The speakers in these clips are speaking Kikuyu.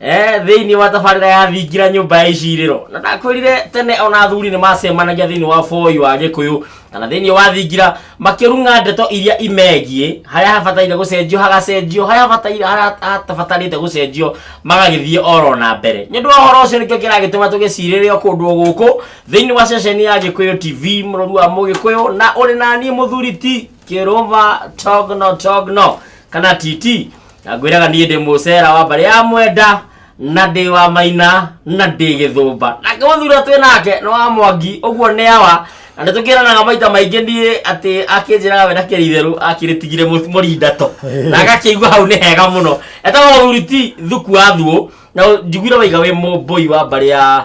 Eh, thĩinĩ wa tabarĩra ya thingira nyũmba ya icirĩro na ndakwĩrire tene ona athuri nĩ macemanagia thĩinĩ wa boi wa gĩkũyũ kana thĩinĩ wa thingira makĩrung'a ndeto iria imegiĩ harĩa habataire gũcenjio hagacenjio harĩa habataire- harĩa hatabatarĩte gũcenjio magagĩthiĩ oro na mbere nĩ ũndũ wa ũhoro ũcio nĩkĩo kĩragĩtũma tũgĩcirĩrĩo kũndũ o gũkũ thĩinĩ wa ceceni ya gĩkũyũ tv mũrũri wa mũgĩkũyũ na ũrĩ na niĩ mũthuri ti kĩrũva togno togno kana titi na ngwĩraga niĩ ndĩ mũcera wa mbarĩ ya mwenda na ndĩ wa maina na ndĩ gĩthũmba nake mũthura twĩ nake nĩ wa mwangi ũguo nĩ awa na nĩ tũkĩranaga maita maingĩ niĩ atĩ akĩnjĩraga we ndakĩrĩ itherũ akĩrĩtigire mũ- mũrinda to na agakĩigua hau nĩ hega mũno etagwo mũthuri ti thuku wa thuũ na njiguire waiga wĩ mũmbũi wa mbarĩ ya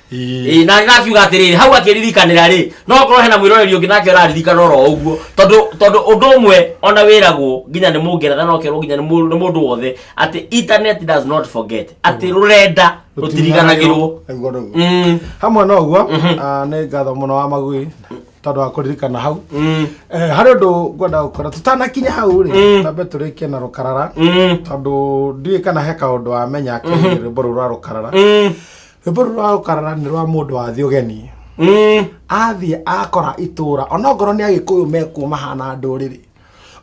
Ĩĩ, na na akiuga atĩrĩrĩ hau akĩririkanĩra rĩ no korwo hena mwĩroreri ũngĩ nake ũraririkana oro ũguo tondũ tondũ ũndũ ũmwe ona wĩragwo nginya nĩ mũngeretha no kerwo nginya nĩ mũ- nĩ mũndũ wothe atĩ internet does not forget atĩ rũrenda rũtiriganagĩrwo Aigua ũguo. Mm, hamwe na ũguo ah, nĩ ngatho mũno wa magui tondũ wa kũririkana hau mm, Eh, harĩ ũndũ ngwenda gũkora tũtanakinya hau rĩ Mm. tambe tũrĩkie na rũkarara mm, tondũ ndiũĩ kana he kaũndũ wamenya akĩrĩrĩmbũrũ rwa rũkarara mm. rwĩmbo rũrũ rwa gũkarara nĩ rwa mũndũ wa thĩ ũgeni Mm. athiĩ akora itũra onokorwo nĩ agĩkũyũ mekuo mahana ndũrĩrĩ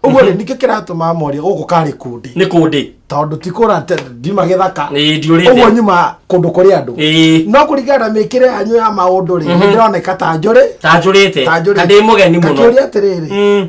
ũguo rĩ ningĩ kĩratũma moria gũkũ karĩ kundi nĩ kũndĩ tondũ ti kũra ndima gĩthaka Ĩĩ, ndiũrĩte. ũguo nyuma kũndũ kũrĩ andũ Ĩĩ. no kũringana na mĩkĩre yanyu ya maũndũ rĩ nĩndĩroneka ta njũrĩ tanjũrĩte ta njũrĩ kandĩ mũgeni mũno kakĩũria atĩrĩrĩ Mm.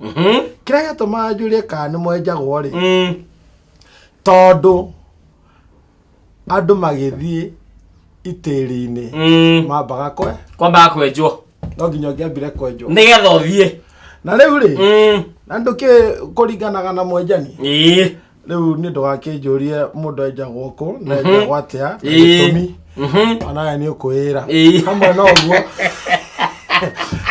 Mhm. kĩrĩa gĩatũmaga njũrie kana nĩ mwenjagwo rĩ Mm. tondũ andũ magĩthiĩ itĩri-inĩ Mm. mambaga kwe kwambaga kwenjwo no nginya ũngĩambire kwenjwo nĩgetha ũthiĩ na rĩu rĩ Mm. na ndũkĩ kũringanaga na mwenjani Ĩĩ. rĩu niĩ ndũgakĩnjũrie mũndũ enjagwo kũ na enjagwo atĩa na Ĩĩ. gĩtũmi Mhm. onawe nĩ ũkwĩĩra Ĩĩ. hamwe na ũguo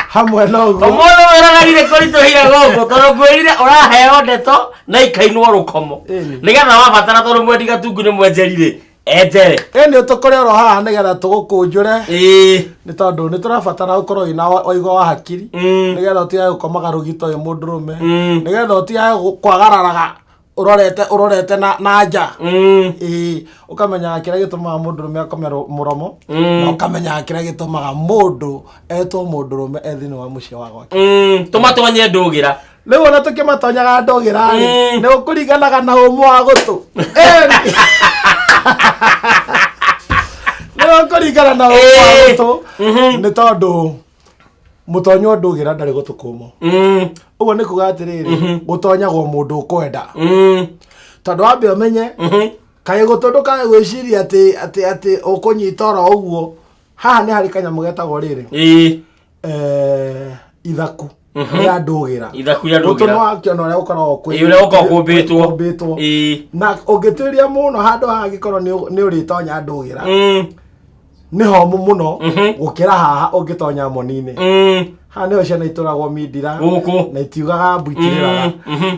hamwe na ũguo ũmũthĩ wĩroragire kũritũhire gũkũ tondũ ngwĩrire ũraheo ndeto na ikainwo rũkomo Ĩni. nĩgetha wabatara tondũ mwendi gatungu nĩ mwenjerire enjere eni tũkore oro haha nĩgetha tũgũkũnjũre ĩĩ nĩ tondũ nĩ tũrabatara gũkorwo wĩna wa- ũigo wa hakiri Mm. nĩgetha ũtigage gũkomaga rũgito ũyũ mũndũrũme Mm. nĩgetha ũtigage gũ- kwagararaga ũrorete ũrorete na- na nja Mm. Ĩĩ, ũkamenyaga kĩrĩa gĩtũmaga mũndũrũme akome ro- mũromo Mm. na ũkamenyaga kĩrĩa gĩtũmaga mũndũ etwo mũndũrũme e thĩinĩ wa mũciĩ wa gwake Mm, tũmatonye ndũgĩra rĩu ona tũkĩmatonyaga ndũgĩra Eh. nĩ ũkũringanaga na ũmũ wa gũtũ Eh. nĩ ũkũringana na ũmũ wa Eh. gũtũ Mhm. nĩ tondũ mũtonywo ndũgĩra ndarĩ gũtũ kũmũ Mm, ũguo nĩ kuga atĩrĩrĩ gũtonyagwo mũndũ ũkwenda mm, tondũ wambe ũmenye mhm. kaĩ gũtũ ndũkae gwĩciria atĩ atĩ atĩ ũkũnyita oro ũguo haha nĩ harĩ kanyamũ getagwo rĩrĩ Ĩĩ. eh, ithaku rĩa ndũgĩra ithaku rĩa gũtũ ndũgĩra nĩwakĩona ũrĩa ũkoragwo kwĩ- Ĩĩ, ũrĩa ũkoragwo kũmbĩtwo. kũmbĩtwo. Ĩĩ. na ũngĩtuĩria mũno handũ haha angĩkorwo nĩ- nĩ ũrĩtonya ndũgĩra Mm, nĩ homũ mũno Mhm. gũkĩra haha ũngĩtonya moni-inĩ mm, haha nĩho ciana itũragwo mindira gũkũ na itiugaga mbu itirĩraga Mm, mhm.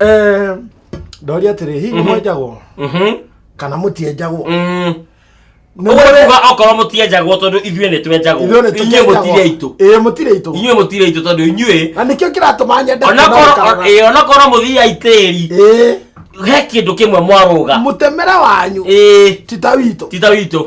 Eh, ndoria atĩrĩ hihi nĩ mwenjagwo Mhm. kana mũtienjagwo Mm. Nĩ Ũguo mwene- kuga okorwo mũtienjagwo tondũ ithuĩ nĩ twenjagwo ithuĩ nĩ inyuĩ tũkĩenjagwo. mũtirĩ aitũ Ĩĩ, mũtirĩ aitũ inyuĩ mũtirĩ aitũ tondũ inyuĩ na nĩkĩo kĩratũma nyende onakorwo kũgarũra. ĩĩ, onakorwo mũthiai tĩri Ĩĩ, he kĩndũ kĩmwe mwarũga mũtemere wanyu Ĩĩ, ti ta witũ ti ta witũ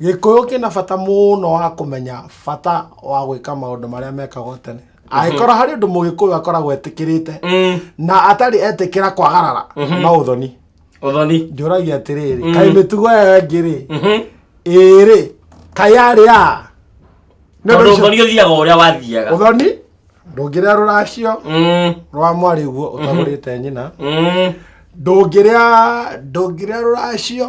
Gĩkũyũ kĩna bata mũno wa kũmenya bata wa gwĩka maũndũ marĩa mekagwo tene. Angĩkorwo harĩ ũndũ mũgĩkũyũ akoragwo etĩkĩrĩte Mm, na atarĩ etĩkĩra kwagarara no ũthoni. ũthoni Njũragia atĩrĩrĩ, kaĩ mĩtugo ĩyo ĩngĩ-rĩ, Mhm. ĩrĩ, kaĩ yarĩ ya? Nĩ ũndũ tondũ ũcio- ũthoni ũthiaga o ũrĩa wathiaga Ũthoni ndũngĩrĩa rũracio Mm, rwa mwarĩ guo ũtagũrĩte nyina. mm. Ndũngĩrĩa ndũngĩrĩa rũracio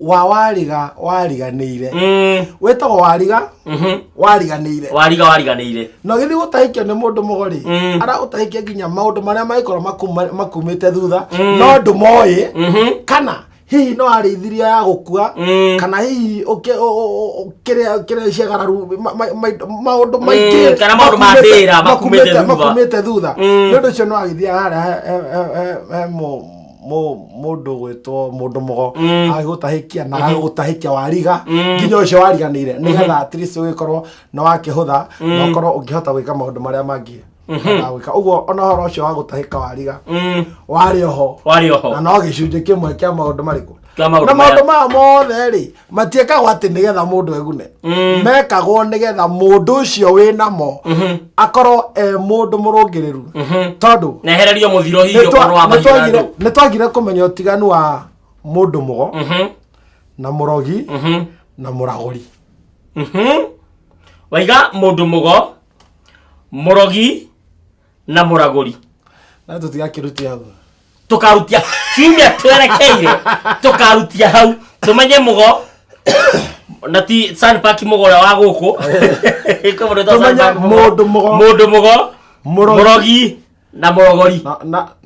wa wariga wariganĩire Mm, wĩtagwo wariga mhm. wariganĩire wariga wariganĩire na gĩthiĩ gũtahĩkio nĩ mũndũ mũgorĩ Mm. aragũtahĩkia nginya maũndũ marĩa mangĩkorwo makuma- makumĩte thutha Mm. no ndũmoĩ Mhm. kana hihi no arĩithiria ya gũkua Mm. kana hihi ũkĩ- ũ- ũ- ũ- kĩrĩa kĩrĩa ciagararu ma- ma- ma- maũndũ Mm, maingĩ kana maũndũ ma makumĩte- ndĩra makumĩte makumĩte- thutha. makumĩte thutha Mm. nĩ ũndũ ũcio no agĩthiaga harĩa he- he- he- he- he mũ- mũ- mũndũ gwĩtwo mũndũ mũgo Mm. agĩgũtahĩkia na agagũtahĩkia wariga Mm. nginya ũcio wariganĩire nĩgetha at least ũgĩkorwo nĩ wakĩhũtha na ũkorwo ũngĩhota gwĩka maũndũ marĩa mangĩ ũhotaga gwĩka ũguo ona ũhoro ũcio wa gũtahĩka wariga Mm. warĩ oho warĩ na oho no gĩcunjĩ kĩmwe kĩa maũndũ marĩkũ Kĩa maũndũ na maũndũ maya mothe rĩ matiĩkagwo atĩ nĩgetha mũndũ egune mm. mekagwo nĩgetha mũndũ ũcio wĩ namo mhm. akorwo e mũndũ mũrũngĩrĩru mhm. tondũ nĩ twagire kũmenya ũtiganu wa mũndũ mũgo mhm. na mũrogi na mũragũri waiga mũndũ mũgo mũrogi na mũragũri na tũtigakirutia hau tũkarutia kiumia twerekeire tũkarutia hau tũmenye mũgo na ti sanpaki mũgo ũrĩa wa gũkũ Tũmenye mũndũ mũgo. mũndũ mũgo Mũrogi. mũrogi na mũrogori na, na,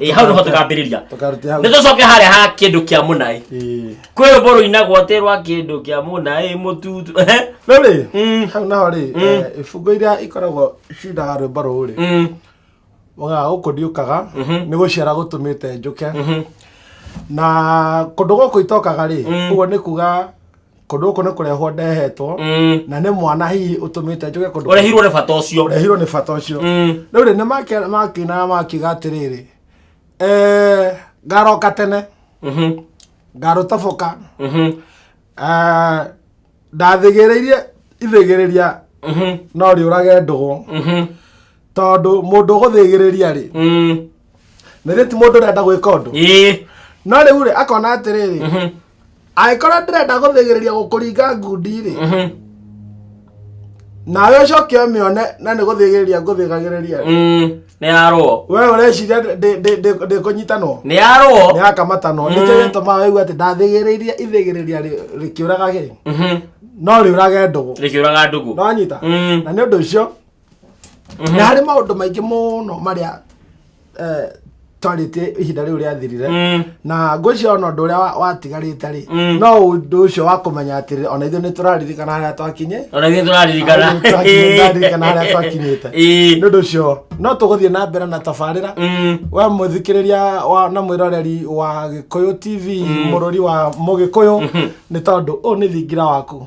ĩ hau nĩho tũkambĩrĩria tũkarutia hau nĩ tũcoke harĩa ha kĩndũ kĩa mũnaĩ Ĩĩ. kwĩ rũmbo rũinagwo atĩ rwa kĩndũ kĩa mũnaĩ mũtutu no rĩ Mm. hau naho rĩ Mm. eh, ibungo iria ikoragwo cindaga rwĩmbo rũu rĩ Mm, mũgaa gũkũ ndiũkaga Mhm. nĩ gũciara gũtũmĩte njũke mhm. na kũndũ gũkũ itokaga rĩ Mm. ũguo nĩ kuga kũndũ gũkũ nĩ kũrehwo ndehetwo Mm. na nĩ mwana hihi ũtũmĩte njuge kũndũ ũrehirwo nĩ bata ũcio ũrehirwo nĩ bata ũcio Mm. rĩu rĩ nĩ makĩ- makĩinaga makiuga atĩrĩrĩ "Eh, ngaroka tene Mhm. ngarũtoboka Mhm. Eh, ndathigĩrĩirie ithigĩrĩria Mhm. no rĩũrage ndũgũ Mhm. tondũ mũndũ ũgũthigĩrĩria rĩ Mm. nĩthĩ ti mũndũ ũrenda gwĩka ũndũ Ĩĩ. no rĩu rĩ akona atĩrĩrĩ Mhm. angĩkorwo ndĩrenda gũthĩgĩrĩria gũkũringa ngundi-rĩ Mhm. nawe ũcoke ũmĩone na nĩ gũthĩgĩrĩria ngũthĩgagĩrĩria Mm, nĩ yarwo we ũreciria ndĩ- ndĩ- ndĩ- ndĩ- ndĩkũnyitanwo nĩ yarwo nĩakamatanwo Mm. nĩkĩo gĩtũmaga waigua atĩ ndathĩgĩrĩirie ithĩgĩrĩria rĩ- rĩkĩũraga gĩ Mhm. no rĩũrage ndũgũ rĩkĩũraga ndũgũ nonyita Mm. na nĩ ũndũ ũcio na harĩ maũndũ maingĩ mũno marĩa eh, twarĩtie ihinda rĩu rĩathirire Mm. na ngwĩciria ona ũndũ ũrĩa wa- watigarĩte rĩ Mm. no ũndũ ũcio wa kũmenya atĩrĩ ona ithuĩ nĩ tũraririkana harĩa twakinye ona ithuĩ tũraririkana Ona ithuĩ tũrakinyĩ- ndaririkana harĩa twakinyĩte Ĩĩ. nĩ ũndũ ũcio no tũgũthiĩ na mbere na tabarĩra Mm. we mũthikĩrĩria wa na mwĩroreri wa gĩkũyũ tv mũrũri wa mũgĩkũyũ nĩ tondũ ũyũ nĩ thingira waku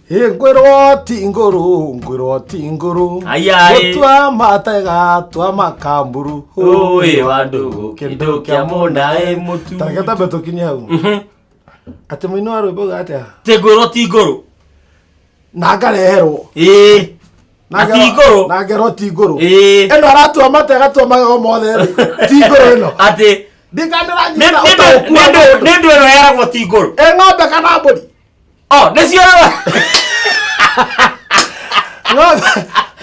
Ĩ ngwĩrwo ti ngũrũ ngwĩrwo ti ngũrũ Aya, ĩ. gũtua matega tua makamburu Ũĩ wa ndũgũ, kĩndũ kĩa mũna, ĩ, mũtu. tareke tambe tũkinye hau atĩ mũini wa rwĩmbo uga atĩa tä ngå rwo ti ngå rå na ngareherwo ä na ti ngå rå na ngerwo ti ngũrũ Ĩĩ. ĩno aratua matega tua magego mothe rĩ, ti ngũrũ ĩno atä ndikandĩranyita ũtaũku wa mũndũ nä ndå ä no yaragwo ti ngå rå ĩ ng'ombe kana mbũri Oh, nĩ cio ng'ombe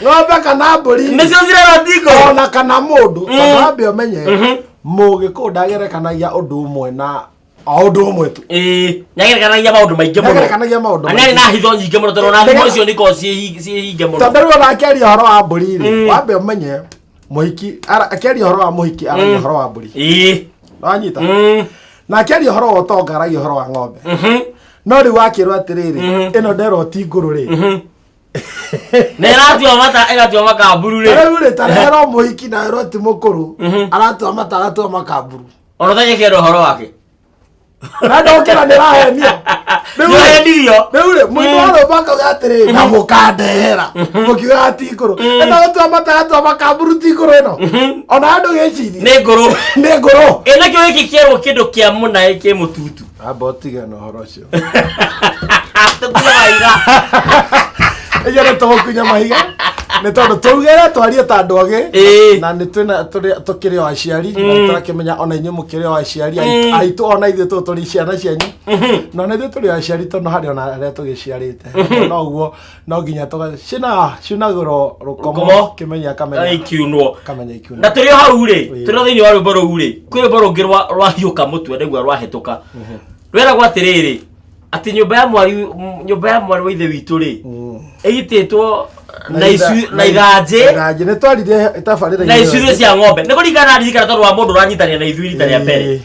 ng'ombe kana mbũri nĩ cio cirera ndingo ona kana mũndũ Mm. tondũ wambe ũmenye Mhm. mũgĩkũũ ndagerekanagia ũndũ ũmwe na o ũndũ ũmwe tu Ĩĩ, nyagerekanagia maũndũ maingĩ mũno ndagerekanagia maũndũ na nĩ arĩ na maingĩ. hitho nyingĩ mũno tondũ ona thimũ Ndege- icio nĩkoragwo ciĩhinge mũno tondũ rĩu ona akĩaria ũhoro wa mbũri Mm. rĩ wambe ũmenye mũhiki ara- akĩaria ũhoro wa mũhiki aragia Mm. ũhoro wa mbũri ĩĩ wanyita Mm. na akĩaria ũhoro wa ũtonga aragia ũhoro wa ng'ombe Mhm. no rĩu wakĩrwo atĩrĩrĩ Mhm. ĩno nderwo ti ngũrũ rĩ Mhm. na ĩratua mata ĩgatua makamburu rĩ rĩu rĩ tarero mũhiki na ĩrwo ti mũkũrũ Mhm. aratua mata aratua makamburu ona ũtanyekera ũhoro wake nadokera ndĩrahenio nĩũhendirio rĩu rĩ mũndũ wa rũmba akauga atĩrĩ na mũkandehera mũkiuga ati ngũrũ ĩno gũtua mataya twa makamburu ti ngũrũ ĩno ona andũ gĩcirie nĩ ngũrũ nĩ ngũrũ ĩnakĩo gĩkĩ kĩerwo kĩndũ kĩa mũnaĩ kĩ mũtutu amba ũtige na ũhoro ũcio tũkunya mahiga ĩyo nĩ tũgũkunya mahiga nĩ tondũ twaugĩra twarie ta andũ agĩ Ĩĩ. na nĩ twĩna- tũrĩ- tũkĩrĩ o aciari na nĩ tũrakĩmenya ona inyuĩ mũkĩrĩ o aciari Ai- aitũ ona ithuĩ tũ tũrĩ ciana cianyu na ona ithuĩ tũrĩ o aciari tondũ harĩ ona arĩa tũgĩciarĩte no ũguo no nginya tũgacina cinagũrwo rũkomo Rũkomo. kĩmenya Ai, kamenya kiunwo kamenya ikiuna na tũrĩ o hau rĩ Ĩĩ. tũrĩ o thĩinĩ wa rwĩmbo rũu rĩ kwĩ rwĩmbo rũngĩ rwa- rwahiũka mũtwe nĩguo rwahĩtũka rweragwo atĩrĩrĩ atĩ nyũmba ya mwari nyũmba ya mwari wa ithe witũ rĩ ĩgitĩtwo na icu- na ithanjĩ ithanjĩ nĩ twarire tabarĩra na icurio cia ng'ombe nĩ kũringana na ririkana tondũ wa mũndũ ũranyitanĩra na ithuĩ rita rĩa mbere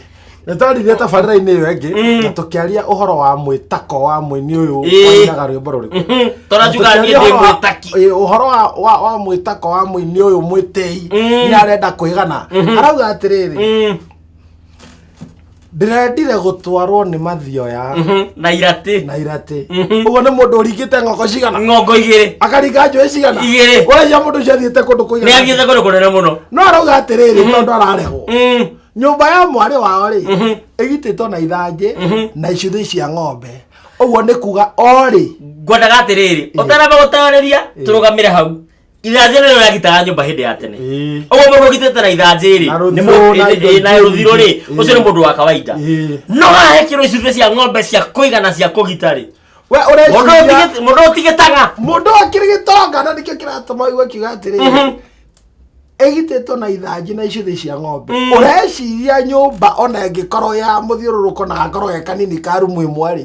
nĩ twarire tabarĩra-inĩ ĩyo ĩngĩ Mm. na tũkĩaria ũhoro wa mwĩtako wa mũini ũyũ Ĩĩ. wainaga rwĩmbo rũrĩkũ Mhm. tondũ njuga niĩ ndĩ mwĩtaki Ĩĩ, ũhoro wa- wa wa mwĩtako wa mũini ũyũ mwĩtĩi Mm. nĩ arenda kwĩgana arauga atĩrĩrĩ Mm. ndĩrendire gũtwarwo nĩ mathioya Mhm, na iratĩ na iratĩ Mhm. ũguo nĩ mũndũ ũringĩte ng'ongo cigana ng'ongo igĩrĩ akaringa njũĩ cigana Igĩrĩ. ũraiya mũndũ ũcio athiĩte kũndũ nĩ kũigana athiĩte kũndũ kũnene mũno no arauga atĩrĩrĩ tondũ ararehwo Mm, nyũmba ya mwarĩ wao rĩ Mhm. ĩgitĩtwo na ithanjĩ Mhm. na icuthĩ cia ng'ombe ũguo nĩ kuga orĩ ngwendaga atĩrĩrĩ ũtaramba gũtarĩria tũrũgamĩre hau ithanjĩ nĩrĩo rĩagitaga nyũmba hĩndĩ ya tene Ĩĩ. ũguo mũndũ ũgitĩte na ithanjĩ rĩ Na rũthirũ, nĩ mũndũ- na ĩ- indo ĩ- na ingĩ rũthirũ rĩ nyingĩ. ũcio nĩ Ĩĩ. mũndũ wa kawaida Ĩĩ. no hahekirwo icumbĩ cia ng'ombe cia kũigana cia kũgita rĩ we mũndũ ũreciria ũtigĩ- mũndũ ũtigĩtaga mũndũ akĩrĩ gĩtonga na nĩkĩo kĩratũma ũigua akiuga atĩrĩ Mhm. ĩgitĩtwo na ithanjĩ na icuthĩ cia ng'ombe Mm. ũreciria nyũmba ona ĩngĩkorwo ya mũthiũrũrũko na gakorwo ge kanini ka rumu ĩmwe rĩ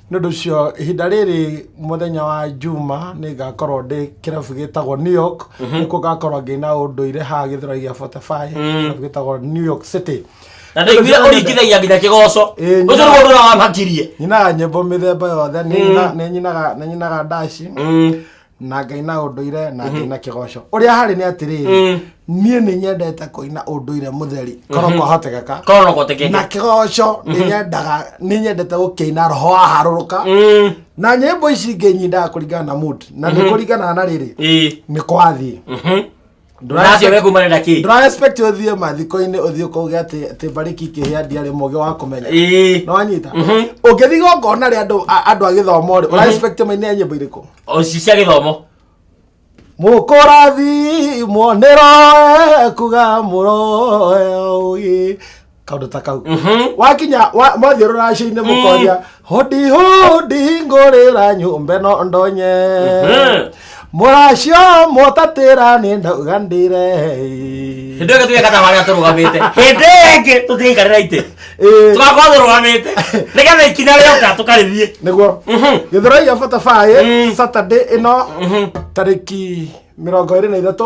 nĩ ũndũ ũcio ihinda rĩrĩ mũthenya wa juma nĩ ngakorwo ndĩ kĩrabu gĩtagwo new york nĩkuo ngakorwo ngĩina ũndũire haha gĩthũra gĩa fortify kĩrabu gĩtagwo new york city na ndaiguire ũringithagia nginya kĩgoco Ĩĩ, ũcio nyina. nĩguo ũndũ ũrĩa wamakirie nyinaga nyĩmbo mĩthemba yothe nĩ nyina- nĩ nyinaga- nĩ nyinaga ndaci na ngai na ũndũire na ngai na kĩgoco ũrĩa harĩ nĩ atĩrĩrĩ niĩ nĩ nyendete kũina ũndũire mũtheri korwo kwahotekeka korwo no gũtekeke na kĩgoco nĩ nyendaga nĩ nyendete gũkĩina roho waharũrũka Mm, na nyĩmbo ici ingĩ nyindaga kũringana na mood na nĩ kũringanaga na rĩrĩ ĩĩ nĩ kwathiĩ mhm. Ndũracio we kumana na kĩ? ndũra expect ũthiĩ mathiko-inĩ ũthiĩ kũge atĩ atĩ mbarĩki kĩhĩa ndiarĩ mũgĩ wa kũmenya Ĩĩ. nĩwanyita ũngĩthiĩ gongona rĩ andũ a- andũ a gĩthomo rĩ ũra expect maine nyĩmbo irĩkũ O ci cia gĩthomo. mũkũrathimwo nĩroe kuga mũroe ũgĩ kaundu ta kau wakinya wa- mwathiũrũra cĩ-inĩ mũkoria hũndi hũndi ngũrĩra nyũmba ĩno ndonye mũracio mũtatĩra nĩ ndauga ndĩre hĩndĩ ĩyo tũgekata harĩa tũrũgamĩte hĩndĩ ĩyo ĩngĩ tũtiaikarĩra itĩ Ĩĩ, tũgakorwo tũrũgamĩte nĩgetha ikinya rĩoka tũkarĩthiĩ nĩguo gĩthũrai gĩa batabaĩ saturday ĩno tarĩki mĩrongo ĩrĩ na ithatũ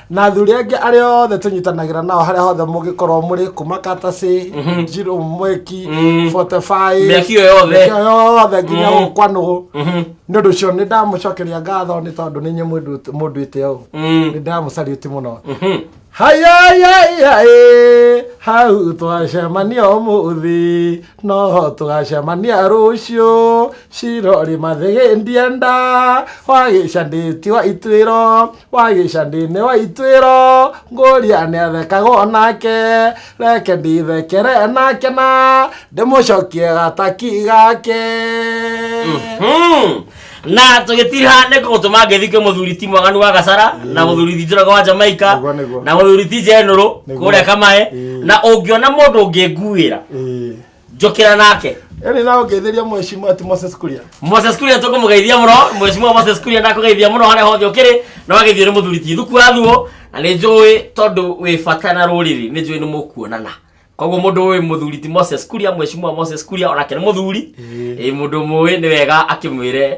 na athuri angĩ arĩa othe tũnyitanagĩra nao harĩa hothe mũngĩkorwo mũrĩ kuma katacĩ njirũ mweki botebai Mĩaki ĩyo yothe. mĩaki ĩyo yothe nginya gũkũ kwa nũgũ nĩ ũndũ ũcio nĩ ndamũcokeria ngatho nĩ tondũ nĩ nyuĩ mũndũ- mũndũ ĩte ũũ nĩ ndamũcariũti mũno hayayayayĩ hau twacemania ũmũthĩ noho tũgacemania rũciũ cirorĩ mathĩgĩndia nda wagĩcandĩti wa ituĩro wagĩca ndĩne wa itwĩro ngũria nĩ athekaga o nake reke ndithekere nake na ndĩmũcokie gataki gake Hmm. na tũgĩtiriha nĩ gũtũma ngĩthikĩ mũthuri ti mwaganu wa gacara na mũthuri ti njũraga wa jamaika Nĩguo, nĩguo. na mũthuri ti njenũrũ Nĩguo. kũrĩa kamae Ĩĩ. na ũngĩona mũndũ ũngĩnguĩra Ĩĩ. njũkĩra nake Yaani nao ngetheria mheshimiwa ati Moses Kuria. Moses Kuria tũkũmũgeithia mũno mheshimiwa Moses Kuria ndakũgeithia mũno harĩa hothe ũkĩrĩ na wagĩthiĩ nĩ mũthuri ti thuku athuo na nĩ njũĩ tondũ wĩ bata na rũrĩrĩ nĩ njũĩ nĩ mũkuonana koguo mũndũ ũĩ mũthuri ti Moses Kuria mheshimiwa Moses Kuria onake nĩ mũthuri ĩ mũndũ mũĩ nĩ wega akĩmwĩre